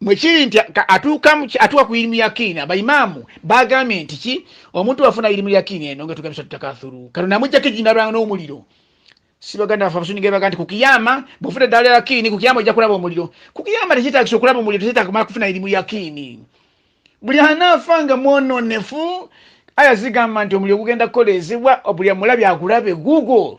mwekiri nti atuuka ku irimu yakiini abaimaamu bagambye nti ki omuntu wafuna irimu yakiini eno nga tugambisa tutakathuru kano namujjako ejinalwanga n'omuliro sibaganda bafe abasunigebaga nti kukiyama bwofuna eddala lya yakiini kukiyama ojja kulaba omuliro kukiyama tekyetagisa okulaba omuliro tekyetaga kumala kufuna irimu yakiini buli anaafa nga mwononefu aya zigamba nti omuliro gugenda kukoleezebwa buli amulabye agulabe google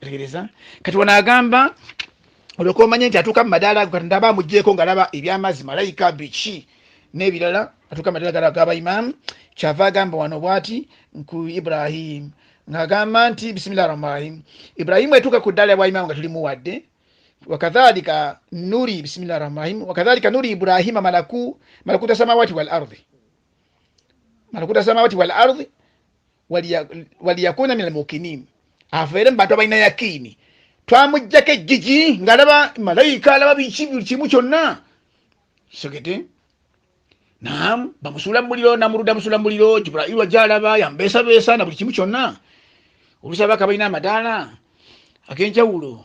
tegereza kati wano agamba olyoka omanye nti atuuka mu madaala ago katonda aba amugyeko ngaalaba ebyamazzi malayika biki n'ebirala atuuka mu madaala gala gaba imaamu kyava agamba wano bwati nku ibrahim ng'agamba nti bisimillah rahman rahim ibrahimu etuuka ku ddaala bwa imaamu nga tulimuwadde wakadhalika nuri bisimillah rahman rahim wakadhalika nuri ibrahima malaku malakuta samawati wal ardhi malakuta samawati wal ardhi waliyakuna min almukinin abeere mubantu abalina yakiini twamujjako ejjiji ngaalaba malayika alaba biki buli kimu kyonna sogede nam bamusuula mumuliro namuruda musuula mumuliro jibrailu ajja alaba yambeesabeesa na buli kimu kyonna olusaba kabalina amadaala agenjawulo